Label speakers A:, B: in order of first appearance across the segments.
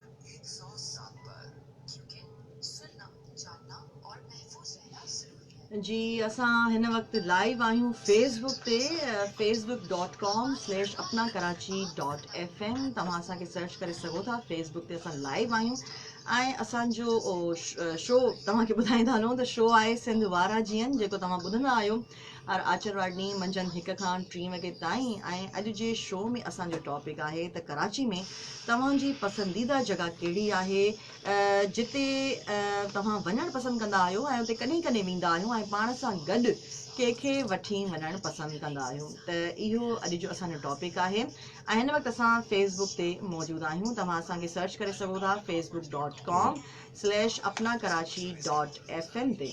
A: هڪ سؤ سات پر ڪيونڪه سننا جاننا اور محفوظ رهنا ضروري هي. جي اسان هن وقت لائيو آهيون فيس بڪ تي Facebook dot com slash Apna Karachi dot F M توهان اسان کي سرچ ڪري سگهو ٿا فيس بڪ تي اسان لائيو آهيون ۽ اسان جو شو توهان کي ٻڌائيندا هلون ته شو آهي سنڌ وارا جيئن جيڪو توهان ٻڌندا آهيو ار آچر واري ڏينهن منجهند هڪ کان ٽين وڳي تائين ۽ اڄ جي شو ۾ اسان جو ٽاپڪ آهي ته ڪراچي ۾ توهان جي پسنديده جڳهه ڪهڙي آهي جتي توهان وڃڻ پسند ڪندا آهيو ۽ اتي ڪڏهن ڪڏهن ويندا آهيو ۽ پاڻ سان گڏ ڪنهن کي وٺي وڃڻ پسند ڪندا آهيو ته اهو اڄ جو اسان جو ٽاپڪ آهي ۽ هن وقت اسان فيس بڪ تي موجود آهيون توهان اسان کي سرچ ڪري سگهو ٿا Facebook dot com slash Apna Karachi dot F M تي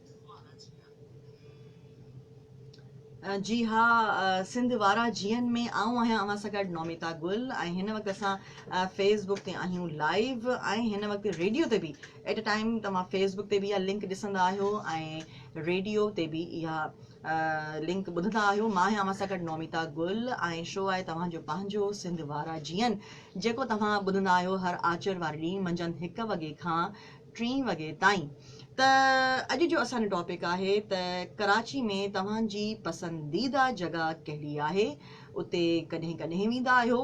A: جي ها سنڌ وارا جيئن ۾ آئون آهيان اوهان سان گڏ نوميتا گل ۽ هن وقت اسان فيس بڪ تي آهيون لائيو ۽ هن وقت ريڊيو تي به ايٽ اي ٽائيم توهان فيس بڪ تي به اها لنڪ ڏسندا آهيو ۽ ريڊيو تي به اها لنڪ ٻڌندا آهيو مان آهيان اوهان سان گڏ نوميتا گل ۽ شو آهي توهان جو پنهنجو سنڌ وارا جيئن جيڪو توهان ٻڌندا آهيو هر آچر واري ڏينهن منجهند هڪ وڳي کان ٽين وڳي تائين ته اڄ جو اسان جو ٽاپڪ آهي ته ڪراچي ۾ توهان جي پسنديده جڳهه ڪهڙي آهي اتي ڪڏهن ڪڏهن ويندا آهيو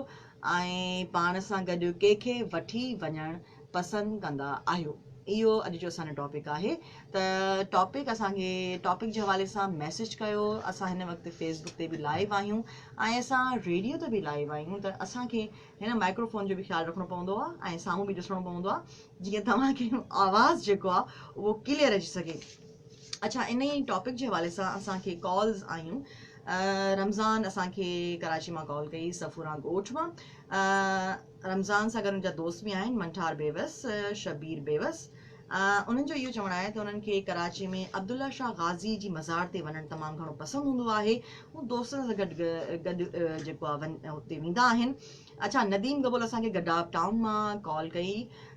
A: ۽ پاڻ سان گڏ ڪي کي وٺي وڃڻ پسند ڪندا آهيو اهو اڄ جو اسان جو ٽاپڪ آهي ته ٽاپڪ اسان کي ٽاپڪ جي حوالي سان ميسج ڪيو اسان هن وقت فيس بڪ تي به لائيو آهيون ۽ اسان ريڊيو تي به لائيو آهيون ته اسان کي هن مائڪرو فون جو به خيال رکڻو پوندو آهي ۽ سامهون به ڏسڻو پوندو آهي جيئن توهان کي آواز جيڪو آ اهو ڪليئر اچي سگهي اڇا انهي ٽاپڪ جي حوالي سان اسان کي ڪالز آيون رمضان اسان کي ڪراچي مان ڪال ڪئي سفوران ڳوٺ مان رمضان سان گڏ ان جا دوست به آهن منٺار بيوس شبير بيوس انهن جو اهو چوڻ آهي ته انهن کي ڪراچي ۾ عبدالله شاهه غازي جي مزار تي وڃڻ تمام گهڻو پسند هوندو آهي هو دوستن سان گڏ گڏ جيڪو آهي هتي ويندا آهن اڇا نديم گبول اسان کي گڏاپ ٽائون مان ڪال ڪئي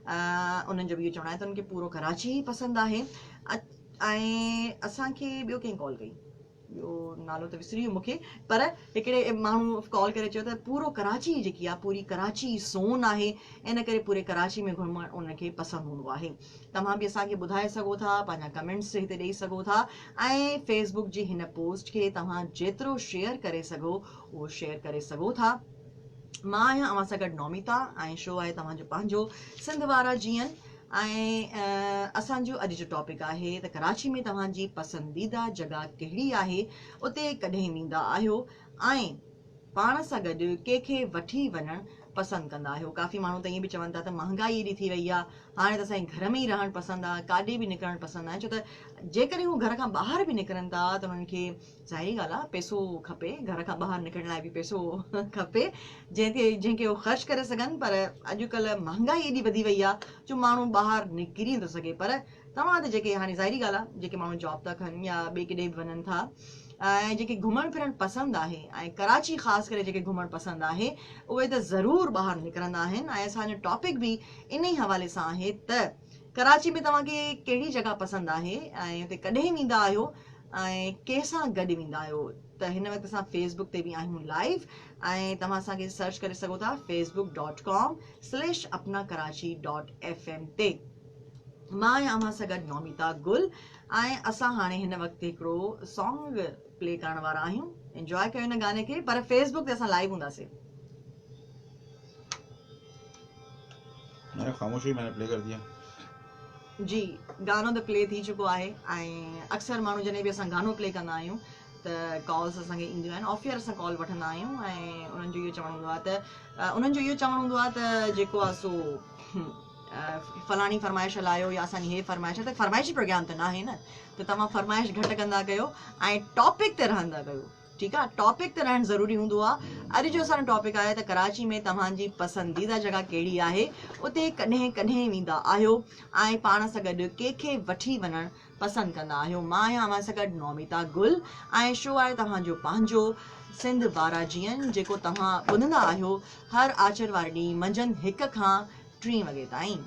A: انهن جو به اهو چوڻ آهي ته انهن کي پورو ڪراچي ئي پسند آهي ۽ اسان کي ٻيو ڪنهن ڪال ڪئي ٻيو نالو ته وسري ويو مونکي پر هڪڙي ماڻهو ڪال ڪري چيو ته پورو ڪراچي جيڪي آهي پوري ڪراچي سون آهي ان ڪري پوري ڪراچي ۾ گهمڻ انهن کي پسند هوندو آهي توهان به اسان کي ٻڌائي سگهو ٿا پنهنجا ڪمينٽس هتي ڏيئي سگهو ٿا ۽ فيسبوڪ جي هن پوسٽ کي توهان جيترو شيئر ڪري سگهو اهو شيئر ڪري سگهو ٿا مان آهيان اوهان سان گڏ نوميتا ۽ شو آهي توهان جو پنهنجو سنڌ وارا جيئن ۽ اسان جو اڄ جو ٽاپڪ آهي ته ڪراچي ۾ توهان جي پسنديده جڳهه ڪهڙي آهي اتي ڪڏهن ويندا آهيو ۽ پاڻ سان گڏ ڪنهن کي وٺي وڃڻ پسند ڪندا آهيو ڪافي ماڻهو ته ائين به چون ٿا ته مهانگائي ايڏي ٿي وئي آهي هاڻي ته اسان گهر ۾ ئي رهڻ پسند آهي ڪاڏي به نڪرڻ پسند آهي ڇو ته جيڪڏهن هو گهر کان ٻاهر به نڪرن ٿا ته انهن کي ظاهري ڳالهه آهي پئسو کپي گهر کان ٻاهر نڪرڻ لاء به پئسو کپي جنهن کي جنهن کي هو خرچ ڪري سگهن پر اڄڪلهه مهانگائي ايڏي وڌي وئي آهي جو ماڻهو ٻاهر نڪري نٿو سگهي پر توهان تي جيڪي هاڻي ظاهري ڳالهه آهي جيڪي ماڻهو جاب ٿا ڪن يا ٻئي ڪيڏي به وڃن ٿا ۽ جيڪي گهمڻ ڦرڻ پسند آهي ۽ ڪراچي خاص ڪري جيڪي گهمڻ پسند آهي اهي ته ضرور ٻاهر نڪرندا آهن ۽ اسان جو ٽاپڪ به انهي حوالي سان آهي ته ڪراچي ۾ توهان کي ڪهڙي جڳهه پسند آهي ۽ اتي ڪڏهن ويندا آهيو ۽ ڪنهن سان گڏ ويندا آهيو ته هن وقت اسان فيس بڪ تي به آهيون لائيو ۽ توهان اسان کي سرچ ڪري سگهو ٿا Facebook dot com slash Apna Karachi dot F M تي مان آهيان اوهان سان گڏ نوميتا گل ۽ اسان هاڻي هن وقت هڪڙو سانگ پلي ڪرڻ وارا آهيون انجوائي ڪيو هن گاني کي پر فيس بڪ تي اسان لائيو هونداسين
B: جي
A: گانو ته پلي ٿي چڪو آهي ۽ اڪثر ماڻهو جڏهن به اسان گانو پلي ڪندا آهيون ته ڪالز اسان کي اينديون آهن آف ايئر اسان ڪال وٺندا آهيون ۽ انهن جو اهو چوڻ هوندو آهي ته انهن جو اهو چوڻ هوندو آهي ته جيڪو آهي سو فلاڻي فرمائش هلايو يا اسانجي هي فرمائش آهي ته فرمائشي پروگرام ته ناهي نه ته توهان فرمائش گهٽ ڪندا ڪيو ۽ ٽاپڪ تي رهندا ڪيو ٺيڪ آ ٽاپڪ ته رهڻ ضروري هوندو آ اڄ جو اسان جو ٽاپڪ آهي ته ڪراچي ۾ توهان جي پسنديده جڳهه ڪهڙي آهي اتي ڪڏهن ڪڏهن ويندا آهيو ۽ پاڻ سان گڏ ڪي کي وٺي وڃڻ پسند ڪندا آهيو مان آهيان اوهان سان گڏ نوميتا گل ۽ شو آهي توهان جو پنهنجو سنڌ بارا جيئن جيڪو توهان ٻڌندا آهيو هر آچر واري ڏينهن منجهند هڪ کان ٽين وڳي تائين.